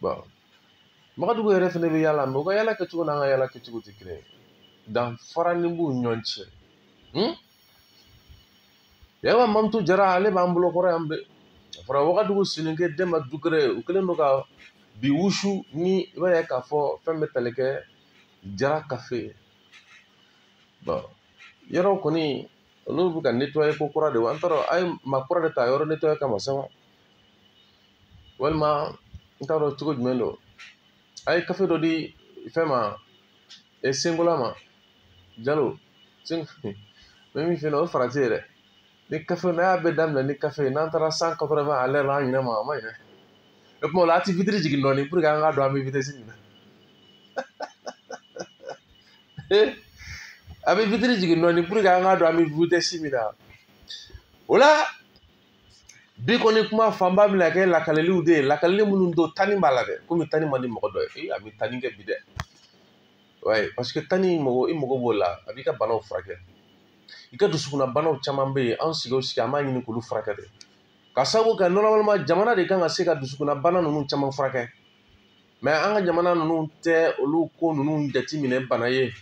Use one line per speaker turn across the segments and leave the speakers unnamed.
bɔn Magadugu yɛrɛ fɛnɛ bɛ yala mɛ u ka yala kɛcogo n'an ka yala kɛcogo tɛ kelen ye danfaranin b'u ni ɲɔgɔn cɛ hmm? yawa mamutu jara ale b'an bolo kɔrɔ yan bɛ a fɔra wagadugu soninke denba dukure u kɛlen don ka bi wusu ni i b'a ye k'a fɔ fɛn bɛ tali kɛ jara kafe bɔn yɔrɔw kɔni olu bɛ ka netɔye ko kura de wa an t'a dɔn a ye maa kura de ta yɔrɔ netɔye kama sa wa walima n t'a dɔn cogo jumɛn don a ye kafe dɔ di fɛn ma e senkola ma jalo sen bɛ min fɛ yen nɔ o ye ferari ye dɛ ni kafe n'a y'a bɛɛ daminɛ ni kafe n'an taara cent quatre-vingt à l'heure la an ɲinɛ ma a ma ɲinɛ o tuma o la a ti vitiri jigin dɔɔnin puruke an k'a dɔn an bɛ vitɛsi min na a bɛ vitiri jigin dɔɔnin puruke an k'a dɔn an bɛ vitɛsi min na o la bi kɔni kuma fanba bɛna kɛ lakaleliw de ye lakaleli minnu don tani b'a la dɛ komi tani man di mɔgɔ dɔ ye a bɛ tani kɛ bi dɛ wayi paseke tani mɔgɔ i mago b'o la a b'i ka banaw furakɛ i ka dusukunna banaw caman bɛ yen an sigi o sigi an b'a ɲini k'olu furakɛ de ka sababu kɛ nɔrɔmaliman jamana de kan ka se ka dusukunna bana ninnu caman furakɛ mɛ an ka jamana ninnu tɛ olu ko ninnu jateminɛ bana ye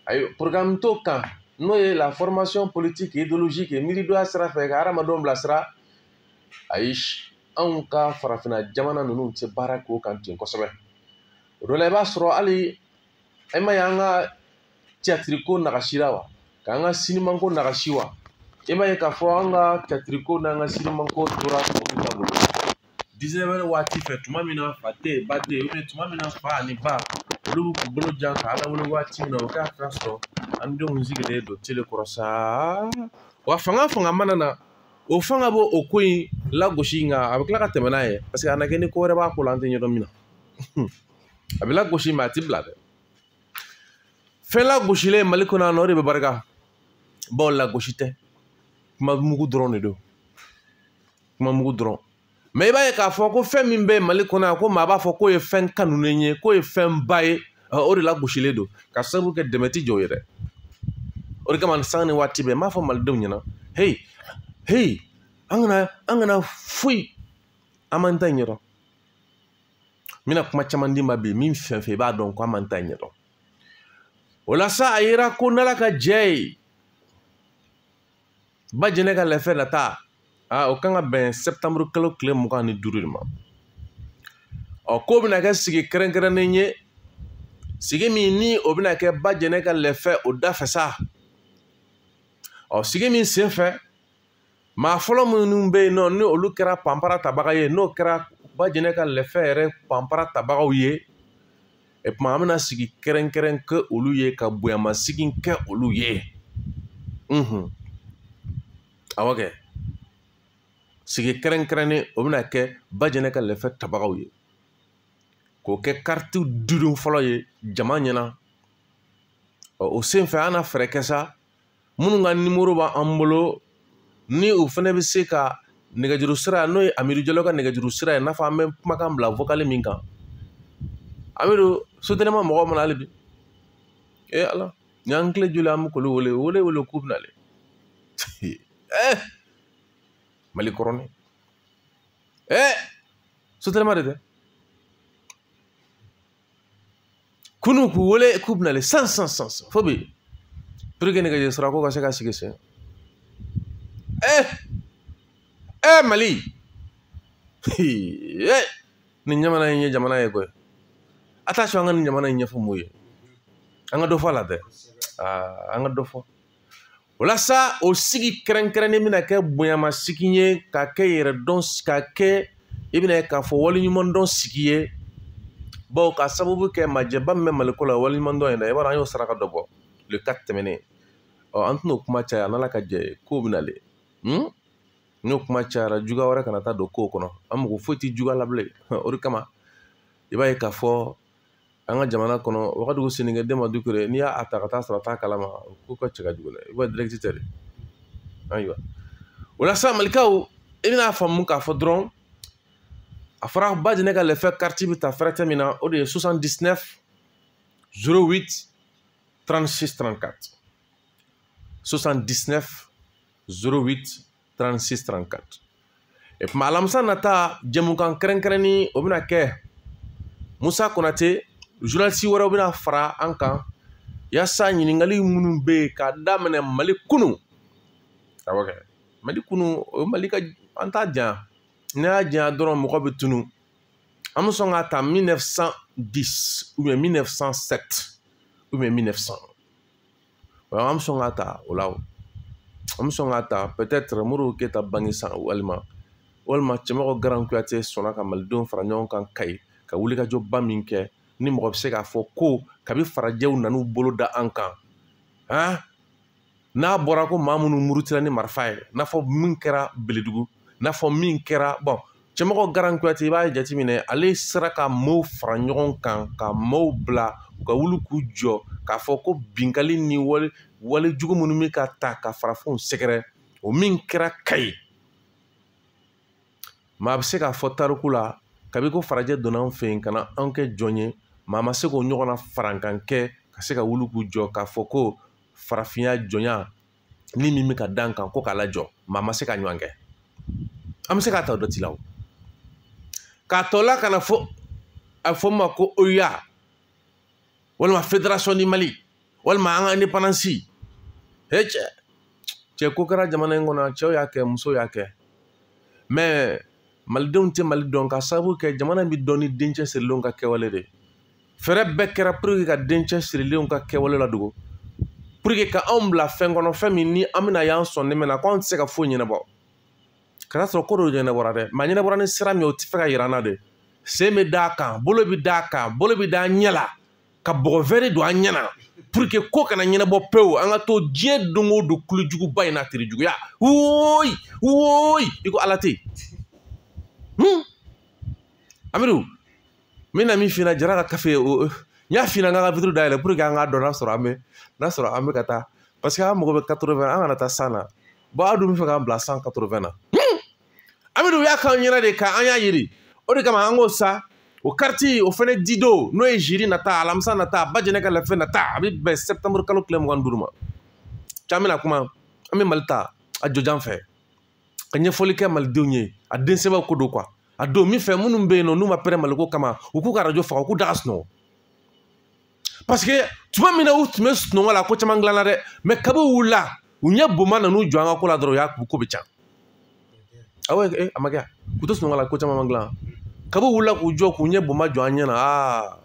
ayi porogaramu t'o kan n'o ye la formation politique idéologique miiridonya sira fɛ ka hadamadenw bilasira ayi anw ka farafinna jamana ninnu tɛ baara k'o kan ten kosɛbɛ o dɔ la i b'a sɔrɔ hali e ma ye an ka tiyatiriko nagasira wa k'an ka sinimanko nagasi wa e ma ye k'a fɔ an ka tiyatiriko n'an ka sinimanko tora tubabuw ta bolo dix-neuf heures waati fɛ tuma min na fa tɛ yen ba tɛ yen tuma min na fa ani ba olu bɛ k'u bolo jan ka ala wele waati min na o k'a ka sɔrɔ an denw sigilen don tele kɔrɔ saa wa fanga fanga mana na o fanga b'o o ko in lagosi nka a bɛ tila ka tɛmɛ n'a ye paseke a na kɛ ni ko wɛrɛ b'a ko la an tɛ ɲɛdɔn min na a bɛ lagosi mɛ a tɛ bila dɛ fɛn lagosilen mali kɔnɔ yan nɔ o de bɛ barika bawo lagosi tɛ kuma mugu dɔrɔn de don kuma mugu dɔrɔn mɛ i b'a ye k'a fɔ ko fɛn min bɛ mali kɔnɔ yan ko maa b'a fɔ k'o ye fɛn kanunen ye k'o ye fɛn ba ye o de lagosilen don ka sababu kɛ dɛmɛ ti jɔ o ye dɛ o de kama sanga ni waati bɛɛ n b'a fɔ malidenw ɲɛna heyi heyi an kana an kana foyi an m'an ta in ɲɛdɔn n bɛna kuma caman d'i ma bi min fɛn fɛn i b'a dɔn ko an m'an ta in ɲɛdɔn o la sa a yera ko n'ala ka jɛ ye ba jɛnɛ ka lɛfɛ nata aa o kan ka bɛn sɛptanburu kalo tile mugan ni duuru de ma ɔ k'o bɛna kɛ sigi kɛrɛnkɛrɛnnen ye sigi min ni o bɛna kɛ ba jɛnɛ ka lɛfɛ o dafɛ sa ɔ sigi min sen fɛ maa fɔlɔ minnu bɛ yen nɔ ni olu kɛra panpara tabaga ye n'o kɛra ba jɛnɛ ka lɛfɛ yɛrɛ panpara tabagaw ye o tuma an bɛna sigi kɛrɛnkɛrɛn kɛ olu ye ka bonyamasigi kɛ olu ye unhun awɔ kɛ sigi kɛrɛnkɛrɛnnen o bɛna kɛ bajɛnɛ ka lɛfɛ tabagaw ye k'o kɛ karitiw didon fɔlɔ ye jama ɲɛna ɔ o senfɛ an na fɛɛrɛ kɛ sa minnu ka nimoro b'an bolo ni u fana bɛ se ka nɛgɛjuru sira n'o ye amidu jalo ka nɛgɛjuru sira ye i n'a fɔ an bɛ kumakan bila vokali min kan amidu sotɛlima mɔgɔw ma na hali bi ee ala ni an kile joli an bɛ k'olu wele wele wele k'u bɛna le ee mali kɔrɔni ee sotɛlima de tɛ kunu k'u wele k'u bɛna le san san san san fo bi pour que nɛgɛjuru sira ko ka se ka sigi sen ɛ ɛ mali ɛ nin jamana in ye jamana ye koyi attention an ka nin jamana in ɲɛfɔ mun ye an ka dɔ fɔ a la dɛ aa an ka dɔ fɔ o la sa o sigi kɛrɛnkɛrɛnnen bɛna kɛ bonyama sigi ye ka kɛ yɛrɛ dɔn ka kɛ i bɛna ye k'a fɔ waleɲuman dɔn sigi ye bawo ka sababu kɛ majɛba min bɛ maliko la waleɲuman dɔn in na i b'a dɔn an y'o saraka dɔ bɔ le 4 tɛmɛnen ɔ an tɛna o kuma caya n'ala ka jɛ ye kow bɛna le hmm? n'o kuma cayara juguya wɛrɛ kana taa don kow kɔnɔ an mago foyi tɛ juguya la bilen o de kama i b'a ye k'a fɔ an ka jamana kɔnɔ wagadugu soninkɛ denba dukure n'i y'a ta ka taa sɔrɔ a t'a kalama ko ka ca ka jugu dɛ i b'a dirɛti tɛ dɛ ayiwa o la sa malikaw i bɛna faamu k'a fɔ dɔrɔn a fɔra ba jɛnɛ ka lɛfɛ kariti bɛ ta fɛrɛtɛ min na o de ye 79 08 36 34 79 08 36 34 o tuma alamisa nata jɛmukan kɛrɛnkɛrɛnni o bɛna kɛ musa konate journalisi wɛrɛw bɛna fara an kan yaasa ɲininkali minnu bɛ yen k'a daminɛ mali kunu awɔ kɛ mali kunu o ye mali ka an t'a janya n'i y'a janya dɔrɔn mɔgɔ bɛ tunu an bɛ sɔn k'a ta 1910 ou bien 1907 ou bien 1900 o an bɛ sɔn k'a ta o la an bɛ sɔn k'a ta peut-être modibo keyita bange san walima walima cɛmɔgɔ garan kuyate sɔnna ka malidenw fara ɲɔgɔn kan kayi ka wulikajɔba min kɛ ni mɔgɔ bɛ se k'a fɔ ko kabi farajɛw nan'u bolo da an kan han n'a bɔra ko maa minnu murutira ni marifa ye n'a fɔ min kɛra beledugu n'a fɔ min kɛra bɔn cɛmɔgɔ garan kuyate i b'a jateminɛ ale sera ka maaw fara ɲɔgɔn kan ka maaw bila u ka wuli k'u jɔ k'a fɔ ko binkali ni wale wale jugu minnu bɛ ka taa ka farafinw sɛgɛrɛ o min kɛra kayi maa bɛ se k'a fɔ tariku la kabi ko farajɛ donna an fɛ yen ka na an kɛ jɔn ye maa ma se k'o ɲɔgɔnna farankan kɛ ka se ka wuli k'u jɔ k'a fɔ ko farafinya jɔnya ni min bɛ ka da an kan ko k'a lajɔ maa ma se k'a ɲɔgɔn kɛ an bɛ se k'a ta dɔ ti la o k'a tɔla ka na fo a fɔ ma ko OUA walima fédération du mali walima an ka indépendance he cɛ cɛ ko kɛra jamana in kɔnɔ cɛw y'a kɛ musow y'a kɛ mais malidenw tɛ mali dɔn ka sababu kɛ jamana bɛ dɔn ni den cɛsirilenw ka kɛwale de fɛɛrɛ bɛɛ kɛra pour que ka den cɛsirilenw ka kɛwale ladogo pour que ka anw bila fɛn kɔnɔ fɛn min ni an bɛna y'an sɔn nɛmɛ na ko anw tɛ se ka foyi ɲɛnabɔ ka t'a sɔrɔ ko dɔ ɲɛnabɔra dɛ mais a ɲɛnabɔra ni sira min ye o t'a fɛ k'a yira an na de sen bɛ d'a kan bolo bɛ d'a kan bolo bɛ d'a ɲɛ la ka bɔgɔ wɛri don an ɲɛ na pour que ko kana ɲɛnabɔ pewu an ka to diɲɛ don o don kulu juguba in na terijuguya woyi woyi i ko ala tɛ yen amidu n bɛna min f'i ɲɛna jara ka kafe o n y'a f'i ɲɛna n ka ka vitre dayɛlɛ pour que an k'a dɔn n'a sɔrɔ an bɛ n'a sɔrɔ an bɛ ka taa parce que an mago bɛ quatre-vingts na an kana taa cent na bon aw dun b'a fɛ k'an bila cent quatre-vingts na amidu u y'a k'an ɲɛna de ka an y'a yiri o de kama an k'o sa o kariti o fɛnɛ didon n'o ye jeudi nata alamisa nata bajɛnɛ ka lafɛ nata a bɛ bɛn septembre kalo tile mugan duuru ma can bɛna kuma an bɛ mali ta a jɔjan fɛ ka ɲɛfɔli kɛ malidenw ye a den sɛbɛw ko don kuwa a don min fɛ minnu bɛ yen nɔ n'u ma pɛrɛn maliko kama u k'u ka arajo faga u k'u da ka sunɔgɔ parce que tuma min na u tun bɛ sunɔgɔ la ko caman dilanna dɛ mais kabi u wulila u ɲɛ boma nan'u jɔ an ka ko la dɔrɔn u y'a ko bɛɛ can awo eh, a ma kɛ k'u to sunɔgɔ la ko caman ma dilan kabi u wulila k'u jɔ k'u ɲɛ boma jɔ an ɲɛ na aa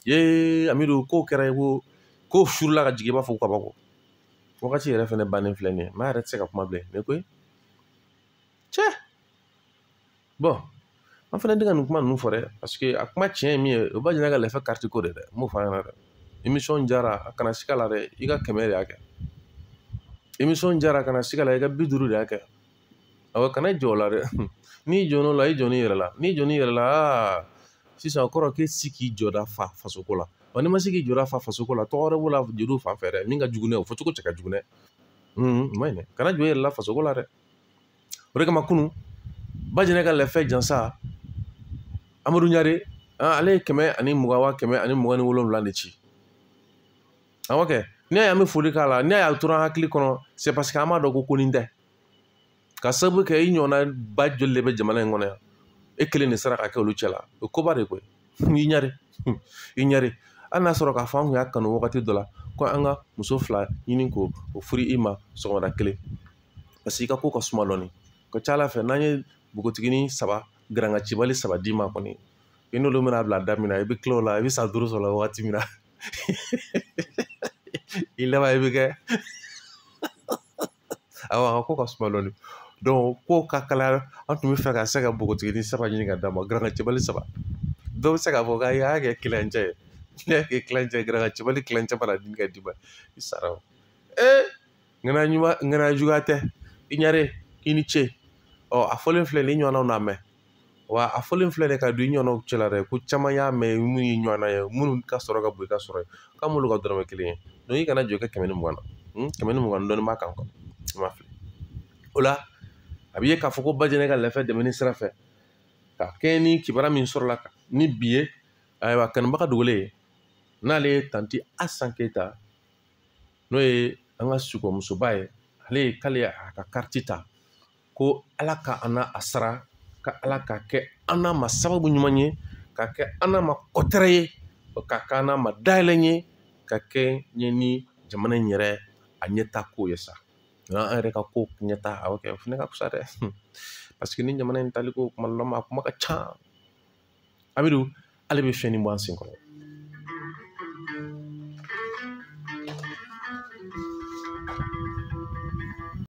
ye amidu k'o kɛra ye ko k'o furula ka jigin i b'a fɔ ko kabako wagati yɛrɛ fɛnɛ bannen filɛ nin ye maa yɛrɛ tɛ se ka kuma bilen ne ko cɛ bon an fɛnɛ tɛ ka nin kuma ninnu fɔ dɛ parce que a kuma tiɲɛ ye min ye o bajɛnɛ ka lafɛ kariti ko de dɛ n b'o fɔ a ɲɛna dɛ émission jara a kana siga la dɛ i ka kɛmɛ de y'a kɛ émission jara kana siga la i ka bi duuru de y'a kɛ awɔ kana jɔn o la dɛ n'i jɔn'o la i jɔn'i yɛrɛ la n'i jɔn'i yɛrɛ la aa sisan o kɔrɔ k'e se k'i jɔda fa fasoko la wa n'i ma se k'i jɔda fa fasoko la tɔgɔ wɛrɛ b'o la jeliw fan fɛ dɛ min ka jugu n'a ye o fɔcogo cɛ ka jugu dɛ o ma ɲi dɛ kana jɔn i yɛrɛ la fasoko la dɛ o de kama kunun bajɛnɛ ka lɛfɛ jansa amadu ɲare ale ye kɛmɛ ani mugan wa kɛmɛ ani mugan ni wolonwula de ci awɔ kɛ n'i y'a ye an bɛ foli k'a la n'i y'a ye a tora an hakili kɔnɔ c'est parce que an b'a dɔn ko ko nin tɛ k'a sababu kɛ i ɲɔgɔnna ba joli de bɛ jamana in kɔnɔ yan e kelen de sera ka kɛ olu cɛ la o koba de koyi i ɲare i ɲare hali n'a sɔrɔ k'a fɔ an tun y'a kanu wagati dɔ la ko an ka muso fila ɲini k'o furu i ma sɔgɔmada kelen parce que i ka ko ka suma dɔɔni ka ca ala fɛ n'an ye npogotiginin saba garanga cibali saba d'i ma kɔni i n'olu bɛna bila da min na i bɛ tila o la i bɛ san duuru sɔrɔ la wagati min na i laban i bɛ kɛ awɔ a ka ko ka suma dɔɔni donc ko ka kalaya an tun b'a fɛ ka se ka npogotiginin saba ɲini ka d'a ma garanga cibali saba dɔw bɛ se k'a fɔ k'a y'a kɛ tilancɛ ye n'i y'a kɛ tilancɛ ye garanga cibali tilancɛ mana ɲini ka d'i ma i sara o ee ŋana ɲuman ŋana juguya tɛ i ɲare i ni ce ɔ a fɔlen filɛ nin i ɲɔgɔnnaw n'a mɛn wa a fɔlen filɛ nin ka don i ɲɔgɔnnaw cɛ la dɛ ko caman y'a mɛn minnu ye ɲɔgɔnna ye minnu ka sɔrɔ ka bon i ka sɔrɔ ye k'a m'olu ka dɔrɔmɛ kelen ye donc i kana jɔn i ka kɛmɛ ni mugan na hmm? kɛmɛ ni mugan dɔɔni b'a kan quoi i ma fili o la a b'i ye k'a fɔ ko bajɛnɛ ka lɛfɛ dɛmɛni sira fɛ ka kɛɲɛ ni kibaruya min sɔrɔla ni bi ye ayiwa kanubaga dogolen ye n'ale ye tanti asan keyita n'o ye an ka sikɔmusoba ye ale ye k'ale y'a ka kariti ta ko ala ka an n'a sara ka ala k'a kɛ an n'a ma sababu ɲuman ye ka kɛ an n'a ma kɔtɛrɛ ye ka kɛ an n'a ma dayɛlɛ ye ka kɛɲɛ ni jamana in yɛrɛ a ɲɛta ko ye sanko an yɛrɛ ka ko ɲɛta a y'o kɛ o fana ka fisa dɛ paseke ni jamana in taliko kuma dɔ la ma a kuma ka ca amidu ale bɛ fɛn nin bɔ an sen kɔrɔ